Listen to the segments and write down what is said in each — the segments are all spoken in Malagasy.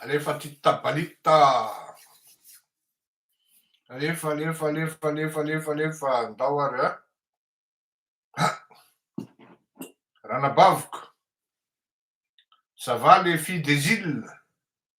Alefa titta balitta. Alefa, alefa, alefa, alefa, alefa, alefa. Ndao ary a. Ranabaviko. Ça va les filles des îles?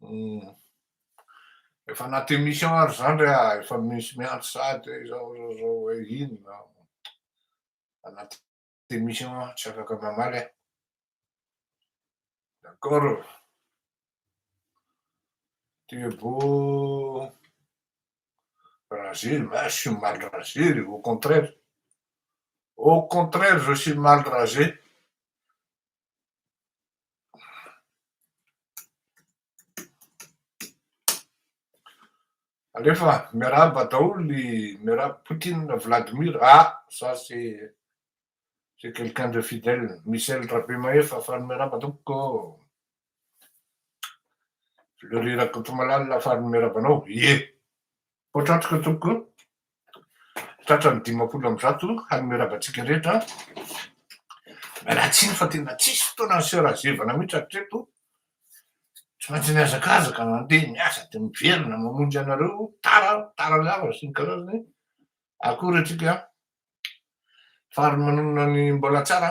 Hmm. Efa anaty émission ary zany re ah, efa misy miantso sady hoe izao izao izao hoe inona. Anaty émission ah, tsy afaka mamaly ah. D'accord. Tu es beau. Rasé, mais je suis mal rasé, au contraire. Au contraire, je suis mal rasé. Alefa, miarahaba daholo ny miarahaba Poutine Vladimir, ah ça c'est c'est quelqu'un de fidèle, Michel Rabemahefa, fa ny miarahaba tompoko, Fleury Rakotomalala, fa ny miarahaba anao, ie. Voatratra tompoko, tratran'ny dimampolo amby zato hanome raba antsika rehetra. Miala tsiny fa tena tsisy fotoana ny sœur azevana mihitsy hatreto. Tsy maintsy mihazakazaka mandeha miasa dia miverina mamonjy anareo tara tara lava sy ny karazany. Akory antsika faharomanonana ny mbola tsara.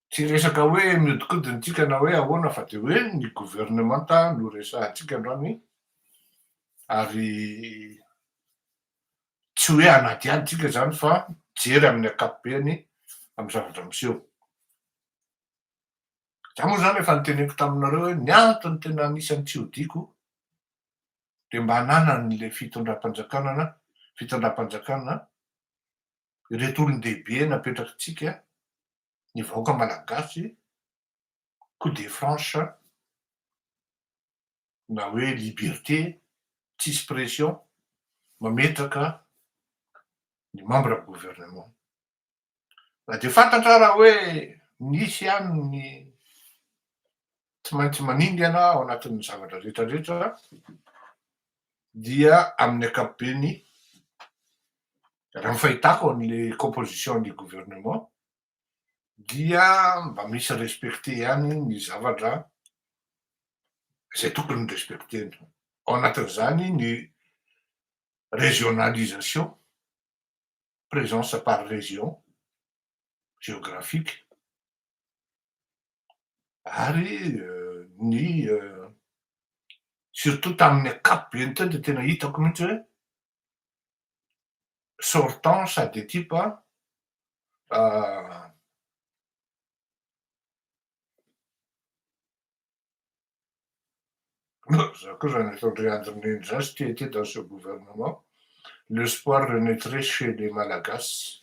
Tsy resaka hoe mihodinkodina antsika na hoe ahoana fa dia hoe ny governemanta no resahantsika androany ary tsy hoe hanadihady tsika izany fa jery amin'ny ankapobeny amin'ny zavatra miseho. Za moa izany efa niteneniko taminareo hoe ny antony tena anisan'ny tsy hodiako dia mba ananan'le fitondram-panjakanana fitondram-panjakana ireto olon-dehibe napetrakitsika ny vahoaka malagasy coup de franche na hoe liberté tsisy pression mametraka ny membre gouvernement na dia fantatra ara hoe misy ihany ny tsy maintsy maningana ao anatin'ny zavatra rehetra rehetra dia amin'ny ankapobeny, raha ny fahitako an'ilay composition du gouvernement, dia mba misy respecter ihany ny zavatra izay tokony respecter-na. Ao anatin'izany ny régionalisation, présence par région géographique. ary ny surtout tamin'ny ankapobeny teo dia tena hitako mihitsy hoe sortant sa de type an Za koa zany efa ndry andry nindry zany s'y tiatia dans ce gouvernement l'espoir renaitrait chez les malagasy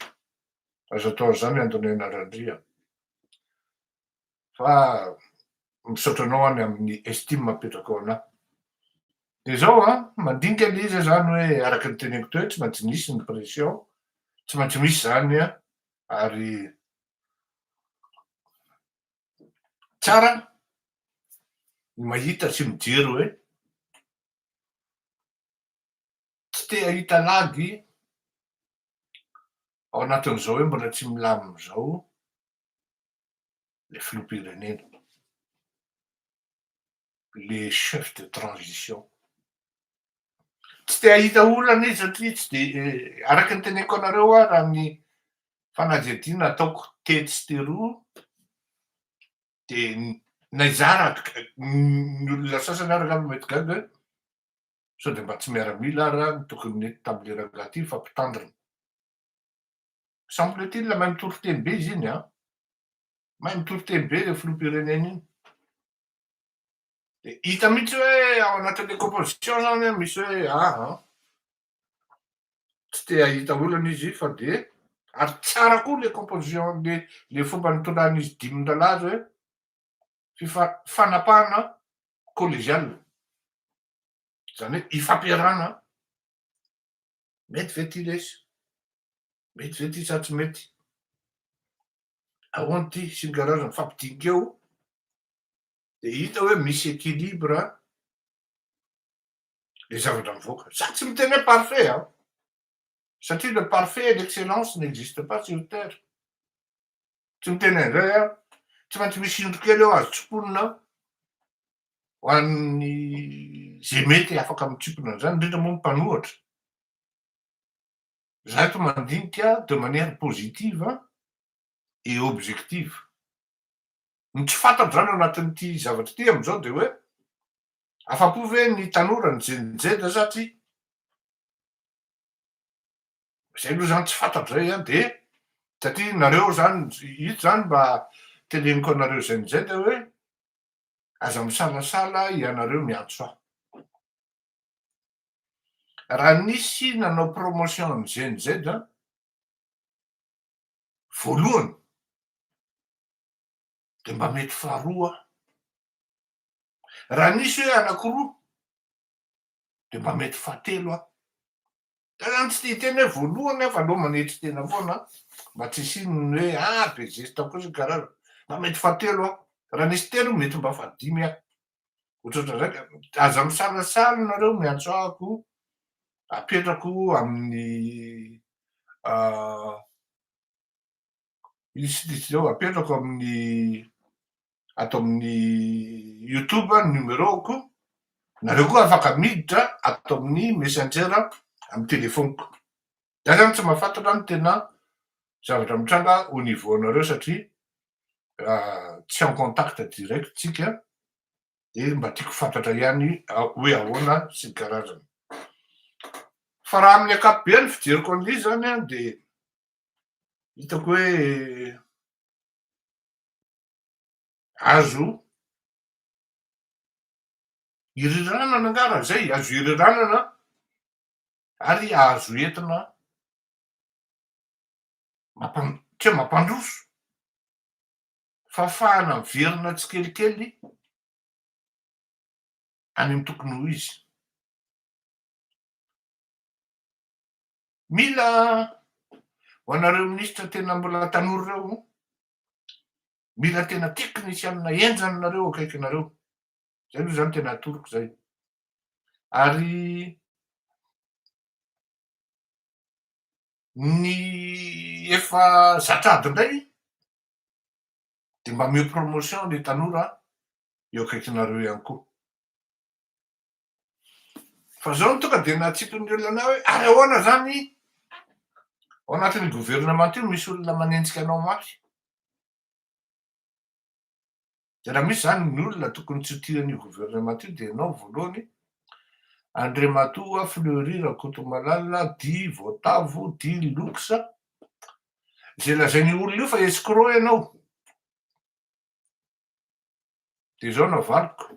aza atao an'zany andonena randria fa misaotra anao any amin'ny estime apetrakao anah de zao a mandinika le izy zany hoe araka ny teneniko teo tsy maintsy nisy ny pression tsy maintsy misy zany a ary Tsara ny mahita sy mijery hoe tsy te hahita lagy ao anatin'izao hoe mbola tsy milamina izao ilay filoham-pirenena. le chef de transition. Tsy te hahita olana izy satria tsy de araka ny teneniko anareo raha amin'ny fanadihadiana ataoko tetsy teroa de naizara ny olona sasany ary angamba mety gaga hoe sao de mba tsy miaramila ary aho no tokony nety tamin'le rangahy ty fa mpitandrina. Semble-t-il mahay mitory teny be izy iny an! Mahay mitory teny be le filoham-pirenena iny. Dia hita mihitsy hoe ao anatin'ny composition zany an, misy hoe a a. Tsy te hahita olana izy fa dia, ary tsara koa le composition le le fomba nitondran'izy dimin-drahalahy azy hoe fifa fanapahana collegiale. Zany hoe ifampiarahana Mety ve ty lesy? Mety ve ty sa tsy mety? Ahoana ty sy ny karazana mifampidinika eo de hita hoe misy équilibre le zavatra mivoaka. Za tsy miteny hoe parfait an! Satria le parfait et l'excellence n'existe pas sur terre. tsy miteny an'izay aho, tsy maintsy misy indro kely eo azo tsiponina ao, ho an'ny izay mety afaka mitsimpona an'izany, indrindra moa ny mpanohatra. Izaho eto mandinika de manière positive et objective. Ny tsy fantatro izany ao anatin'ity zavatra ity amin'izao dia hoe afa-po ve ny tanora, ny Gen Z satria Zay aloha zany tsy fantatro zay an de satria nareo zany ito zany mba teneniko anareo zay amizay de hoe aza misalasala ianareo miantso ahy raha nisy nanao promotion an'i gnz an voalohany de mba mety faharoa aho raha nisy hoe anakiroa dia mba mety fahatelo aho. Tena tsy tia hiteny hoe voalohany aho fa aleo manetry tena foana mba tsy hisian'ny hoe ah be zesta koa sy karazana. Mba mety fahatelo aho. Raha nisy telo mety mba fahadimy aho. Ohatrohatr'izay ka. Aza misalasala ianareo miantso ahy ko apetrako amin'ny Misy liste zao apetrako amin'ny ato amin'ny youtube ny numéro-ko. Nareo koa afaka miditra ato amin'ny messenger amin'ny téléphone-ko. Za zany tsy mahafantatra ny tena zavatra mitranga au niveau anareo satria tsy en contact direct tsika dia mba tiako fantatra ihany hoe ahoana sy ny karazany. Fa raha amin'ny ankapobeny fijeriko an'ilay izy zany dia hitako hoe azo iriranana nga raha zay, azo iriranana ary azo entina mampan- tsy hoe mampandroso fa afahana miverina tsikelikely any amin'ny tokony ho izy. Mila ho anareo ministra tena mbola tanora ireo, mila tena teknisianina henjana nareo akaikinareo. Zay aloha zany tena atoroko zay. Ary ny efa zatra ady indray de mba ameo promotion ny tanora eo akaikinareo ihany koa. Fa zao no tonga de natsipiny ny olona hoe ary ahoana zany ao anatin'ny gouvernement io misy olona manenjika anao mafy. De raha misy zany ny olona tokony tsy ho tia an'io gouvernement io de ianao voalohany, Andriamatoa Fleury Rakotomalala dit Voatavo dit Lux, ze lazain'io olona io fa escroc ianao. De zao no avaliko.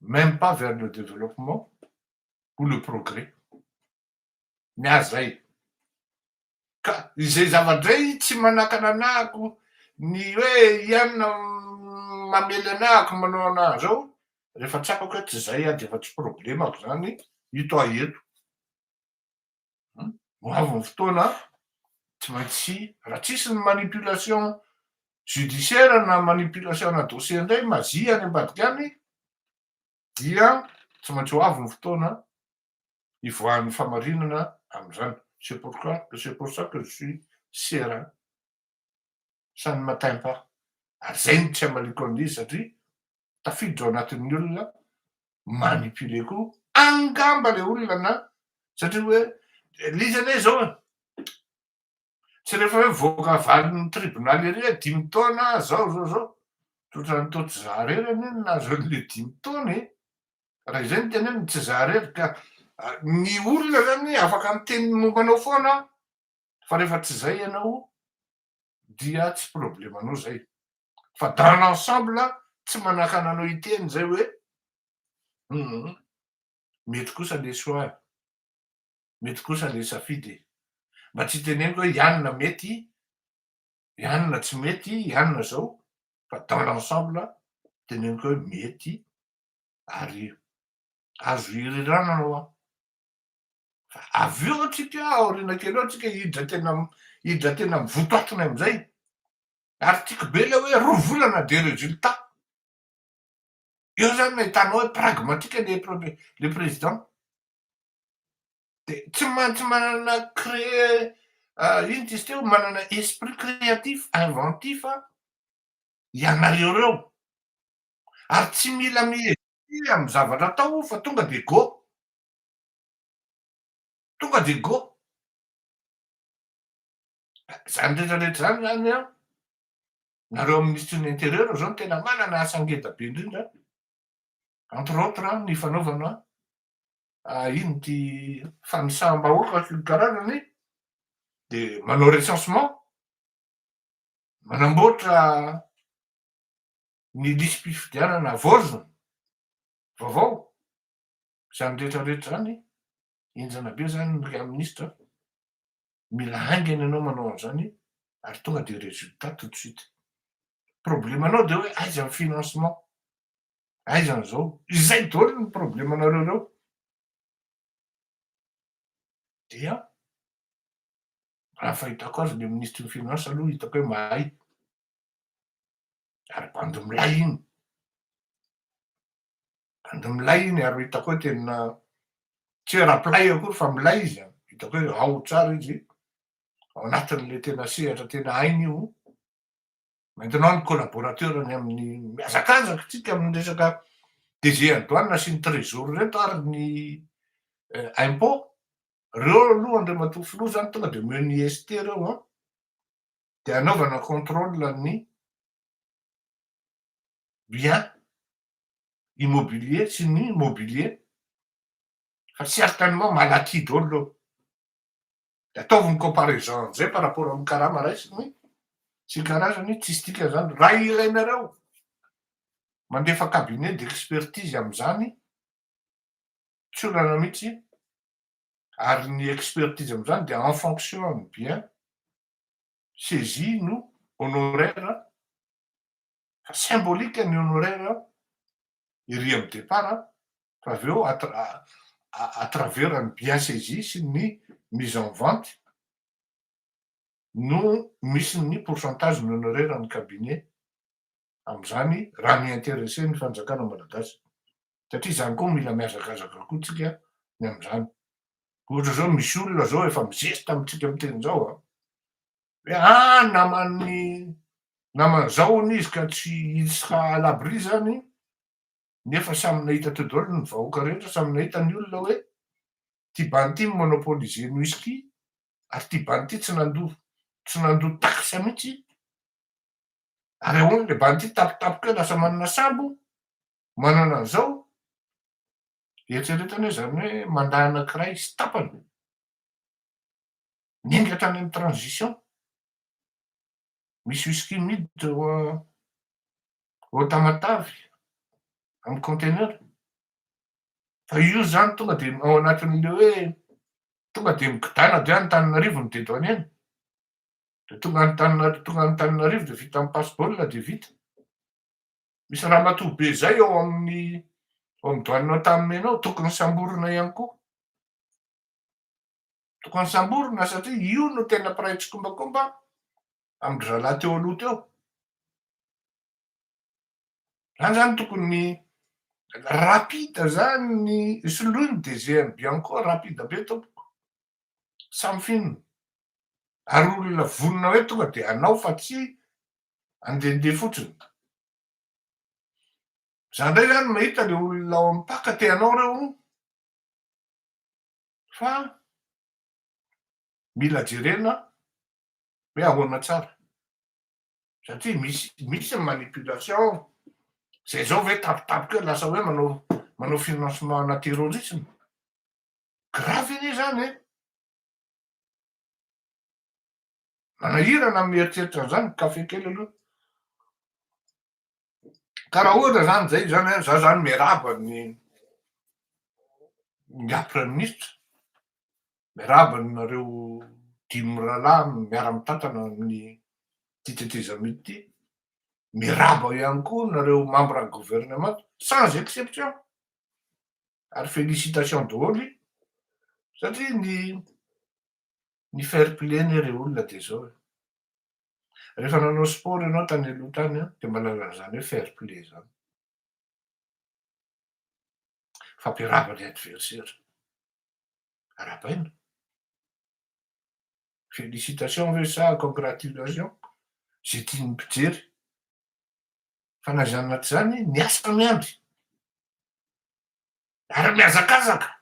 même pas vers le développement ou le progrès ny ahy zay ka izay zava-dray tsy manakana anahako ny hoe ianona mamely anahako manao anaha zao rehefa tsapako hoe tsy zay aho dia efa tsy problemako zany ito ahy eto Ho avy ny fotoana, tsy maintsy, raha tsisy ny manipulation judiciaire na manipulation ana dossier indray mazia any ambadika any, dia tsy maintsy ho avy ny fotoana hivoahan'ny famarinana amin'izany. C'est pourquoi, c'est pour ça que je suis serein, ça ne m'atteint pas. Ary izay no tsy hamaliako an'izy satria tafiditra ao anatin'ny olona manipulé koa angamba le olona na satria hoe le izy anie zao e tsy rehefa hoe voaka valin'ny tribonaly ery hoe dimy taona zao zao zao totran'ny to tsy zaharery anie ny nahazo an'le dimy taona e raha izay ny tena ny tsy zaharery ka ny olona zany afaka miteny momba anao foana fa rehefa tsy zay ianao dia tsy problemanao izay fa dans l'ensemble tsy manakana anao hiteny izay hoe humm mety kosa le choix e, mety kosa le safidy e, mba tsy hiteneniko hoe ianona mety, ianona tsy mety, ianona izao fa dans l'ensemble teneniko hoe mety ary azo ihirirana anao an! Avy eo antsika aoriana kely eo antsika hidra tena hidra tena amin'ny votoatony amin'izay. Ary tiako be ilay hoe roa volana dia résultat. Eo zany no ahitanao hoe pragmatique le premier le président. Dia tsy maintsy manana créer ah, ino izy teo manana esprit créatif, inventif ah, ianareo ireo. Ary tsy mila miezaka amin'ny zavatra atao fa tonga dia go. Tonga dia go. Izany rehetra rehetra izany izany an, nareo amin'ny ministry ny intérieur izao no tena manana asa ngeda be indrindra an, entre autres an, ny fanaovana ino ity fanisam-bahoaka sy ny karazany, dia manao recensement, manamboatra ny lisi-pifidianana vaozina, vaovao, Izany rehetra rehetra izany, henjana be izany ry minisitra a! Mila haingana ianao manao an'izany ary tonga dia résultat tout de suite. Problème-nao dia hoe aiza ny financement? Aiza an'izao? Izay daholo ny problème-nareo ireo. Dia raha ny fahitako azy ilay minisitry ny finance aloha hitako hoe mahay. Ary bandy milay iny. de milay iny ary hitako hoe tena tsy hoe raplay akory fa milay izy an, hitako hoe ao tsara izy ao anatin'le tena sehatra tena hainy io, maintenant ny collaborateur-ny amin'ny mihazakazaka tsika amin'ny resaka DG ny douane sy ny trésor reto ary ny impot, reo aloha Andriamatoa Filoha zany tonga de omeo ny IST reo an, de anaovana contrôle ny. bien immobilier sy ny mobilier fa certainement malaky daholo de ataovy ny comparaison amzay par rapport amin'ny karama raisiny sy ny karazany tsisy dikany zany raha ilainareo mandefa cabinet d'expertise amzany tsy olana mitsy ary ny expertise amzany de en fonction amin'ny bien saisie no honoraire Fa symbolique ny honoraire an! Ery amin'ny départ an! Fa avy eo à travers ny bien saisi sy ny mise en vente no misy ny pourcentage ny honoraire ny cabinet amin'izany raha mi-interesser ny fanjakana malagasy. Satria izany koa mila mihazakazaka koa tsika ny amin'izany. Ohatra izao misy olona izao efa mi-zesta amintsika miteny izao an! hoe ah naman'ny namany zao hono izy ka tsy il sera à l'abri zany nefa samy nahita teo daholo ny vahoaka rehetra samy nahita ny olona hoe ty bandy ty mi-monopoliser ny whisky ary ty bandy ty tsy nandoa tsy nandoa taxe mihitsy ary ahoana le bandy ty tapitapika hoe lasa manana sambo manana an'izao eritreretana hoe zany hoe mandà anankiray sy tapany Nendry hatrany amin'ny transition. Misy whisky miditra ao a- ao Tamatave amin'ny container. Fa io izany tonga dia ao anatin'ilay hoe tonga dia migodàna dia Antananarivo ny dedouanier-ny. Dia tonga any Antananarivo, tonga any Antananarivo dia vita amin'ny passe-ball dia vita. Misy ramatoa be izay ao amin'ny ao amin'ny douane Antanimena ao, tokony samborina ihany koa. Tokony samborina satria io no tena mpiray tsikombakomba amin-dry zalahy teo aloha teo. Zany zany tokony rapide zany ny soloiny de GMB encore rapide be tompoko. Samy finina. Ary olona vonona hoe tonga de hanao fa tsy andehandeha fotsiny. Za ndray zany mahita le olona ao am-paka te hanao reo. Fa mila jerena hoe ahoana tsara. Satria misy misy ny manipulation, izay izao ve tampotampoka eo lasa hoe manao manao financement ana terrorisme. Grave anie izany e! Manahirana ny mieritreritra an'izany, kafe kely aloha. ka raha ohatra zany zay zany hoe za zany miarahaba ny ny ahy praiminisitra miarahaba anareo dimy mirahalahy miara mitantana amin'ny ty tetezamita ty miarahaba ihany koa nareo membre ny gouvernement sans exception ary félicitation daholo i satria ny ny fair play anie re olona de zao e Rehefa nanao sport ianao tany aloha tany an, dia manana an'izany hoe fair play izany. Fampiarahaba ilay adversaire. Arahabaina. Félicitations ve sa congratulations? Izay tian'ny mpijery. Fa na izany na tsy izany, ny asa miandry. Ary mihazakazaka.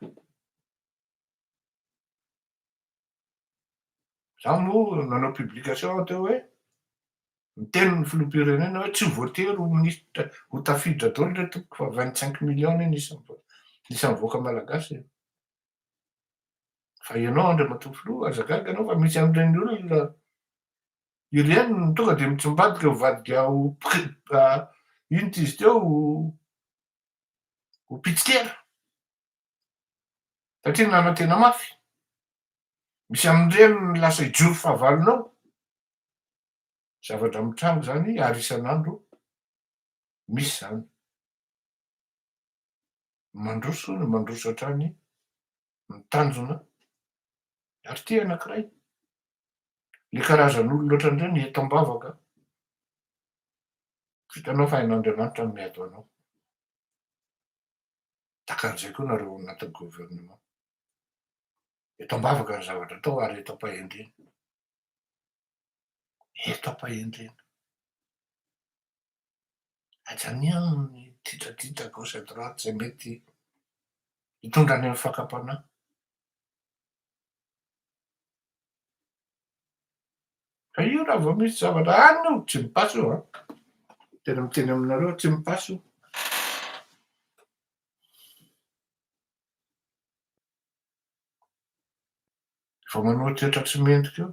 Za moa nanao publication aho teo hoe miteny ny filoham-pirenena hoe tsy voatery ho minisitra ho tafiditra daholo re tompoko fa vingt cinq millions anie ny isan'ny vahoaka malagasy e. Fa ianao Andriamatoa Filoha aza gaga ianao fa misy an'ireny olona ireny no tonga dia mitsimbadika ho vadika ho inona izy teo ho pitsikera. Satria nanantena mafy. Misy amin'ireny ny lasa hijoro fahavalony ao. Zavatra mitranga izany ary isan'andro misy izany. Mandroso ny mandroso hatrany ny tanjona ary tia anankiray. Ilay karazan'olona ohatran'ireny eto am-bavaka. Vitanao fa hain'Andriamanitra ny miady ho anao. Tahaka an'izay koa nareo ao anatin'ny gouvernement. Eto ambavaka ny zavatra atao ary eto am-pahendrena. Eto am-pahendrena. Ajaniano ny titratitra gauche à droite izay mety hitondra any amin'ny fakam-panahy. Fa io raha vao misy zavatra any io tsy mi-passe io an! Tena miteny aminareo aho tsy mi-passe io. Vao manohetrahetra tsy mendrika io.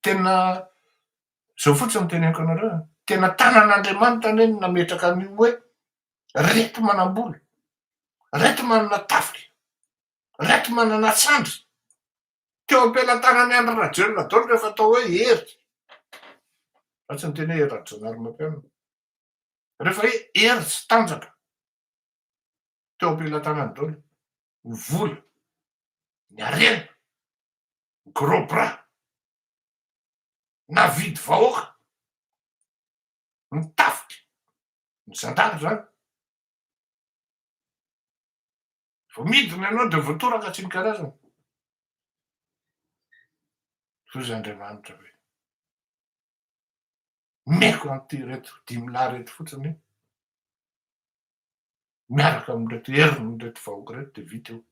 Tena zao fotsiny teneniko anareo an! Tena tanan'Andriamanitra anie no nametraka an'io hoe reto manam-bola, reto manana tafika, reto manana sandry. Teo am-pelatanan'i Andry Rajoelina daholo rehefa atao hoe Hery. Fa tsy niteny hoe Hery Rajaonarimampianina. Rehefa hoe Hery sy Tanjaka, teo am-pelatanany daholo ny vola, ny harena, ny gros bras, navidy vahoaka, ny tafika, ny zandary izany. Vao midina ianao dia voatoraka tsy ny karazana. Hoy izy Andriamanitra hoe, omeko an'ity ireto dimy lahy ireto fotsiny, miaraka amin'ireto herin'ireto vahoaka ireto dia vita eo.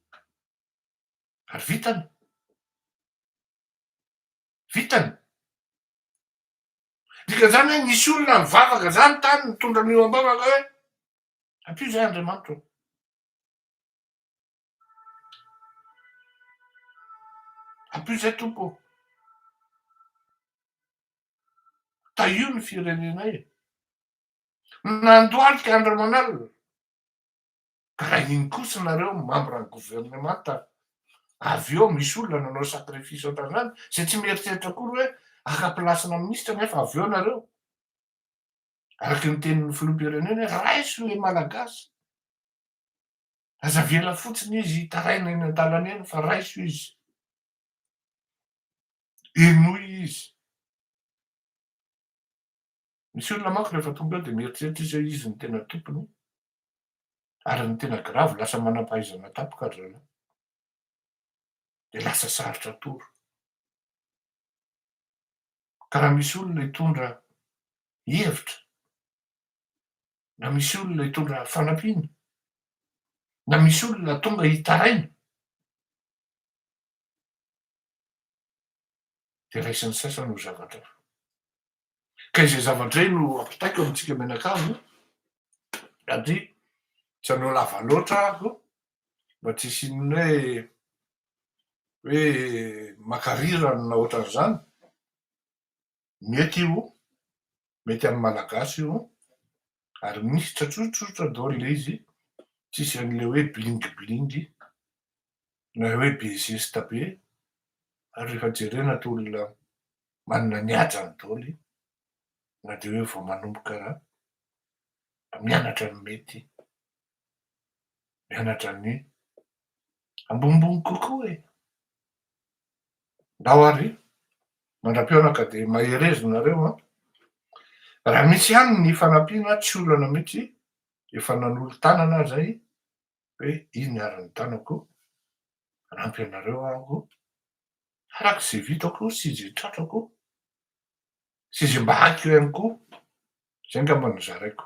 Ary vitany. Vitany. Dika izany hoe nisy olona nivavaka izany tany nitondra an'io ambavaka hoe, ampio izay Andriamanitra. En plus zay Tompo ô, tahio ny firenenay e, nandohalika andro aman'alina, ka raha iny kosa nareo membre ny gouvernemanta avy eo misy olona nanao sacrifice ohatran'izany, zay tsy mieritreritra akory hoe haka place-na ministra nefa avy eo nareo. Araka ny tenin'ny filoham-pirenena, raiso ilay Malagasy. Aza avela fotsiny izy hitaraina eny an-dalana eny fa raiso izy. Henoy izy. Misy olona manko rehefa tonga eo dia mieritreritra izy hoe izy no tena tompony ary ny tena grave lasa manam-pahaizana tampoka ry zalahy. Dia lasa sarotra atoro. Ka raha misy olona hitondra hevitra, na misy olona hitondra fanampiana, na misy olona tonga hitaraina, dia raisin'ny sasany ho zavatra hafa. Ka izay zavatra izay no ampitaiko amintsika mianakavy, satria tsy hanao lava loatra aho mba tsy hisian'ny hoe hoe makarirany na ohatran'izany, mety io, mety amin'ny Malagasy io, ary misy tsatsotsotsotra daholo ilay izy, tsisy an'ilay hoe bling bling na hoe be zesta be, ary rehefa jerena toa olona manana ny hajany daholo na dia hoe vao manomboka mianatra ny mety. mianatra ny ambonimbony kokoa e! Ndao ary mandra-pionaka dia mahereza nareo an! Raha misy ihany ny fanampiana tsy olana mihitsy, efa nanolo-tanana aho izay hoe iny ary ny tanako, hanampy anareo aho araka izay vitako sy izay tratrako. sy izay mba haka eo ihany koa, izay angamba no zaraiko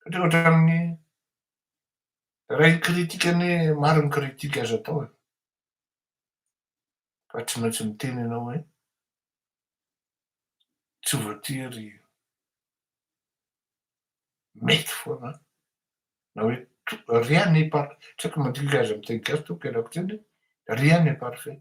satria ohatran'ny raha hikritika anie maro ny critique azo atao e, fa tsy maintsy miteny ianao hoe tsy voatery mety foana na hoe rien n'est parfait, tsy haiko ny mandinika azy amin'ny teny gasy tompoko ialako tsiny, rien n'est parfait.